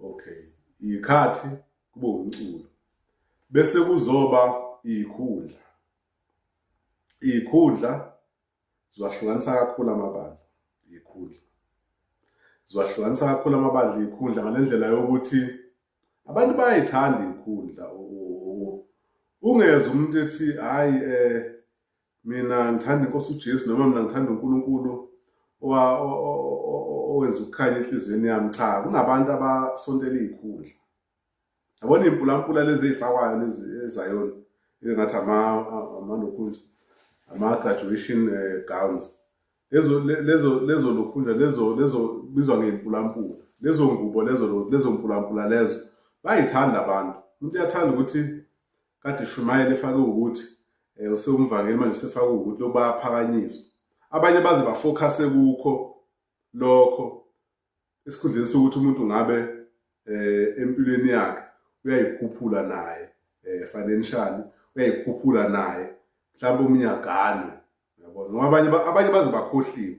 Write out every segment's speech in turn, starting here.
okay ikhathi kube umculo bese kuzoba ikhundla ikhundla ziwahlukanisa kakhulu amabandla ikhundla ziwahlukanisa kakhulu amabandla ikhundla ngalendlela yokuthi abantu bayayithanda ikhundla ungezwa umuntu ethi hayi eh mina ngithanda inkosi ujesu noma mina ngithanda unkulunkulu owenza ukukhanya enhliziyweni yami cha kunabantu abasontela iy'khundla yabona iy'mpulampula lezi ey'fakwayo lezi ezayona engathi amalokhunja ama-graduation eh, gowns lezo lezo lezo lokhunja lezo lezo bizwa ngey'mpulampula lezo ngubo lezo lezo mpulampula lezo bayithanda abantu umuntu uyathanda ukuthi Kade shumayela efake ukuthi eh, usewumvangeli manje usefake ukuthi lokhu bayaphakanyiswa. Abanye baze bafocuse kukho lokho esikhundleni sokuthi umuntu ngabe eh, empilweni yakhe uyayikhuphula naye eh, financially uyayikhuphula naye mhlawumbe umnyagano yabona ngoba abanye abanye baze bakhohliwe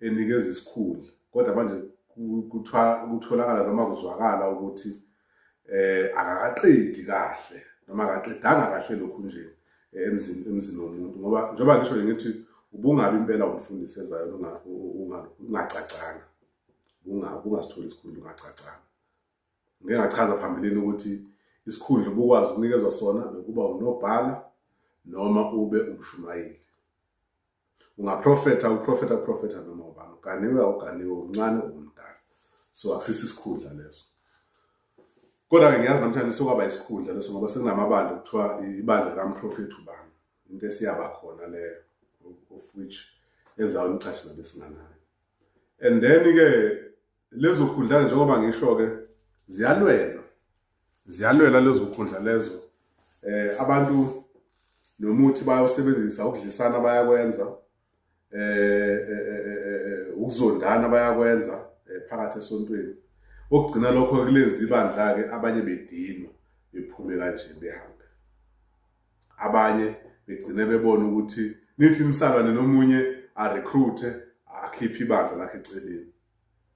enikezwa isikhundla kodwa manje kuthiwa kutholakala noma kuzwakala ukuthi eh akaqedi kahle noma akaqedanga kahle lokhu nje eh, emzini emzini womuntu ngoba njengoba ngisho ngithi ubungabi impela umfundisi ezayo ungacacanga ungasitholi isikhundla ungacacanga ngike ngachaza phambilini ukuthi isikhundla ubukwazi ukunikezwa sona bekuba unobhala noma ube umshumayeli ungaprofetha uprofetha profetha noma ubani uganiwe awuganiwe umncane umdala so akusisi isikhundla leso kodwa-ke ngiyazi namhlanje sokwaba isikhundla leso ngoba sekunamabandla kuthiwa ibandla likamprofethi ubani into esiyaba khona leyo of which ezawunicashela besinganayo and then-ke Lezo khundla njengoba ngisho-ke ziyalwelwa, ziyalwelwa lezo khundla lezo. Eh, abantu nomuthi bayawusebenzisa ukudlisana bayakwenza eh, eh, eh ukuzondana bayakwenza phakathi esontweni okugcina lokho kulenza ibandla-ke abanye bedinwa bephume kanje behambe abanye begcine bebona ukuthi nithi nisalwane nomunye arecruite akhiphe ibandla lakhe eceleni